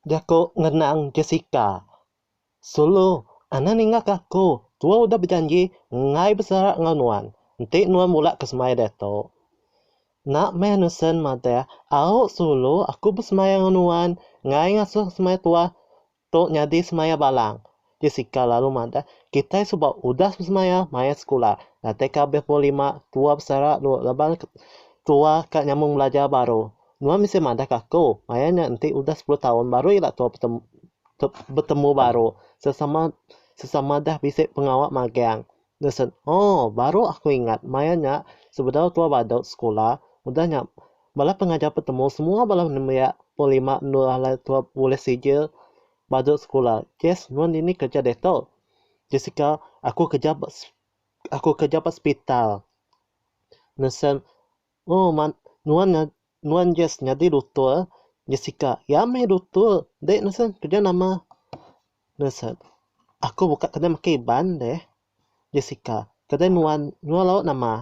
Jaku ngenang Jessica. Sulu, Anang ninga ke aku. Tua udah bejanji enggai besara enggau nuan. Enti nuan mula ke semaya diatu. Nak meh Nusen madah, Au, Sulu, aku besemaya enggau nuan. Enggai ngasuh semaya tuah. Tu nyadi semaya balang. Jessica lalu madah, Kitai suba udah besemaya maya sekula. Datai ka abih pukul lima, tua besara lu laban tua ka nyambung belajar baru. Nuan bisi madah ka aku, maya nya enti udah sepuluh taun baru ila tua betembu baru. Sesama sesama dah bisi pengawa magang. Nelson, Oh, baru aku ingat maya nya sebedau tua badu sekula, udah nya bala pengajar petemu semua bala nembiak pun lima endur alai tua bulih sijil badu sekula. Jess, Nuan dini kerja diatu? Jessica, Aku kerja ba aku kerja ba sepital. Nelson, Oh mak nuan nya nuan Jess nyadi dutur Jessica iya meh dutur deh nesen keja nama nesen aku buka kedai makan iban deh Jessica kedai nuan nyual lauk nama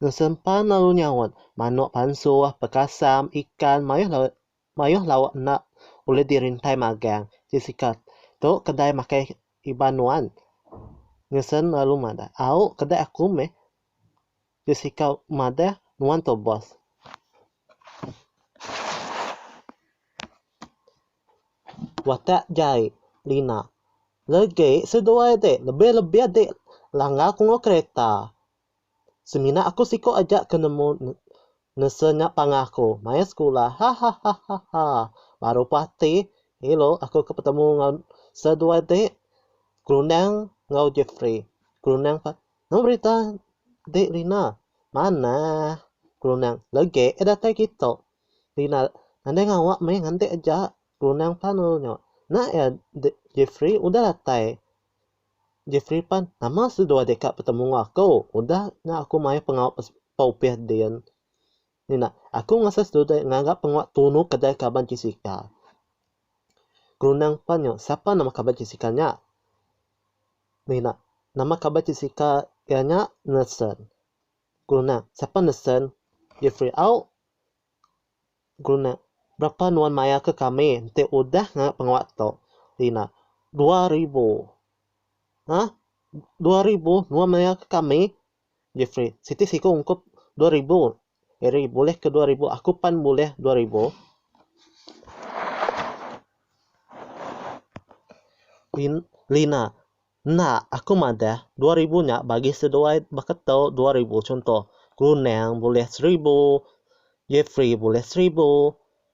nesen pan lalu nyaut manok pansuh bekasam ikan mayuh lauk mayuh lauk enda ulih dirintai magang Jessica tu kedai makan iban nuan nesen lalu madah au kedai aku meh. Ke sikau madah nuan tu boss. Watak jai Lina. Legi seduai ti lebih lebih ti langgar ku enggau kereta. Semina aku siko aja ke nemu nese nya panah ku maya sekula hahahahaha baru puas ati ilo aku ke betemu enggau seduai ti gerundang enggau Jefri gerundang Nama berita dik Rina. Manah. Kelunang. Legek eh datai kita. Rina. Andai ngawak meh ngantik aja. Kelunang pan lalu nya. Nak ya dik Jefri udah datai. Jefri pan. Nama seduai deka betemu enggau aku. Udah nya aku maioh pengawa pa upih din. Rina. Aku ngasa seduai ngaga pengawa tunu kedai kaban Jessica. Kelunang pan nya. Sapa nama kaban Jessica nya. Mina, Nama kaban ti sika iya nya Nelson. Guna, Siapa Nelson? Jeffrey, Au. Guna, Berapa nuan mayarka kami enti udah ngaga pengawa tu? Lina, Dua ribu. Ha? Dua ribu nuan mayarka kami? Jeffrey, Siti siku ungkup dua ribu Eri bulih ke dua ribu aku pan bulih dua ribu. Lin Lina, Enda aku madah dua ribu nya bagi seduai baka tu dua ribu chunto Grunang bulih seribu, Jefri bulih seribu,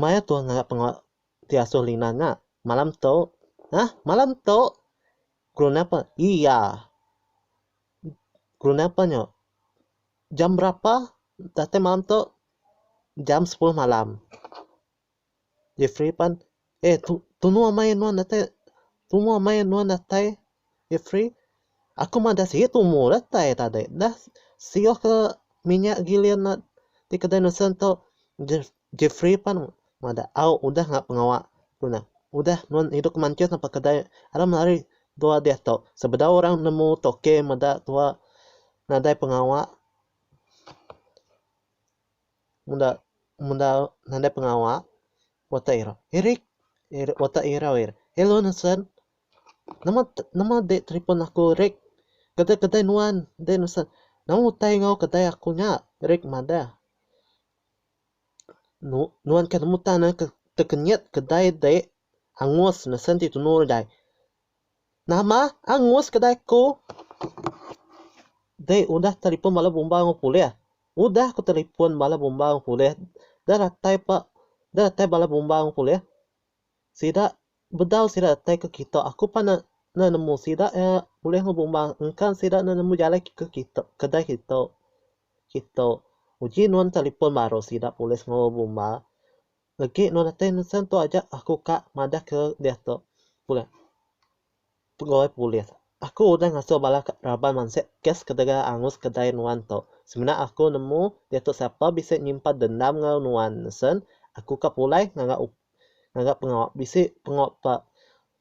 Maya tuah ngangap pengawa ti asuh Lina nya malam tu. Hah? Malam tu? Geruna pa? Iya. Geruna pa nyu? Jam berapa? Datai malam tu? Jam sepuluh malam. Jefri pan, Eh, tu, tunu amai nuan datai. Tunu amai nuan datai. Ifri, aku madah sigi tumu datai tadi dah sioh ke minyak gilir enda ti kedai nesen tu. Jefri pan madah au udah ngak pengawa ku nah. Udah nuan idup ke Mansjed apai kedai ada meh ari dua diah tu. Sebedau orang nemu toke meda tua nadai pengawa meda meda nadai pengawa watak irau. Irik watak irau ira. Hello nesen. Nama nama deh telefon aku Rick. Kedai kedai nuan deh nesah. Nama utai enggau kedai aku nya? Rick madah. Nu nuan kah nemu tan neh tekenyit kedai deh angus mesen ti tunu deh. Nama angus kedai aku? Deh udah telefon bala bumba enggau pulih. Udah ku telefon bala bumba enggau pulih. Deh ratai pa deh ratai bala bumba enggau pulih. Sida bedau sida datai ke kita aku pan enda nemu sida iya bulih ngebu emban engkan sida enda nemu jalai ke kita kedai kita kita uji nuan telefon baru sida polis ngebu emba legi nuan datai nesen tu aja aku ka madah ke diatu. Pegawai Polis. Aku udah ngasuh bala raban mansik kes ketegal angus kedai nuan tu. Semina aku nemu diatu siapa bisi nyimpan dendam enggau nuan sen, aku ka pulai ngaga ngaga pengawa bisi pengawa pa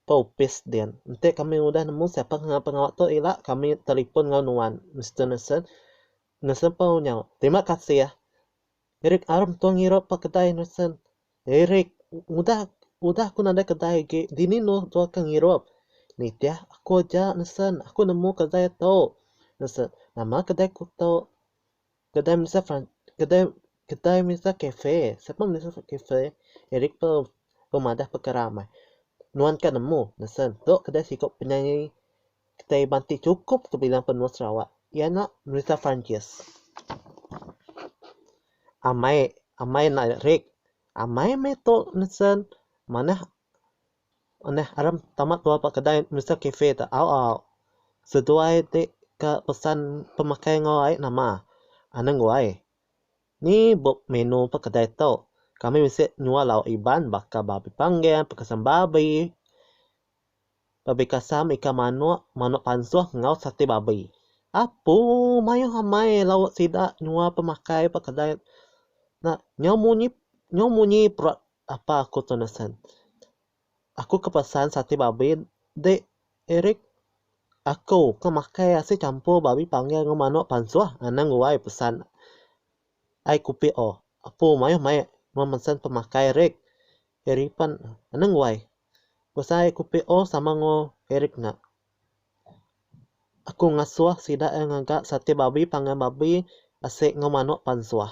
pa opis din. Enti kami udah nemu siapa ke ngaga pengawa tu ila kami telefon enggau nuan Mister Nesen. Nesen pau nyau, Terima kasih. Eric Arm tua ngira pa kedai Henderson. Eric, udah udah ku nadai kedai agi, dini nuh tua ke ngirup? Nitih aku aja Henderson, aku nemu kedai tu. Henderson, nama kedai ku tu? Kedai Melissa Fran kedai kedai Melissa Cafe. Sapa Melissa Cafe? Eric pe pemadah pekara amai. Nuan ka nemu? Henderson, tu kedai siku penyanyi Kitai banti chukup ke bilang penua Sarawak iya nya Merita Francis. Amai amai enda rik. Amai meh tu nisen manah manah aram tama keluar ba kedai Merita Cafe tu au au seduai ti ke pesan pemakai enggau ai nama anang guai. Ni buk menu ba kedai tu. Kami bisi nyual lauk iban baka babi panggang, pekasam babi. Babi kasam ikan manok, manok pansoh enggau sate babi. Apo maioh amai lauk sida nyua pemakai ba kedai enda nyau munyi nyau munyi perut apa aku tu nesen. Aku ke pesan sate babi dek Eric aku ke makai asin campur babi panggil enggau manok pansoh anang guai pesan ai kupik oh. Apo maioh mai mun pemakai Eric. Eric pan anang wai. Besai kupi o sama engo Eric nya. Aku ngasoh sida e ngaga sate babi pangan babi asek engo manok pan soh.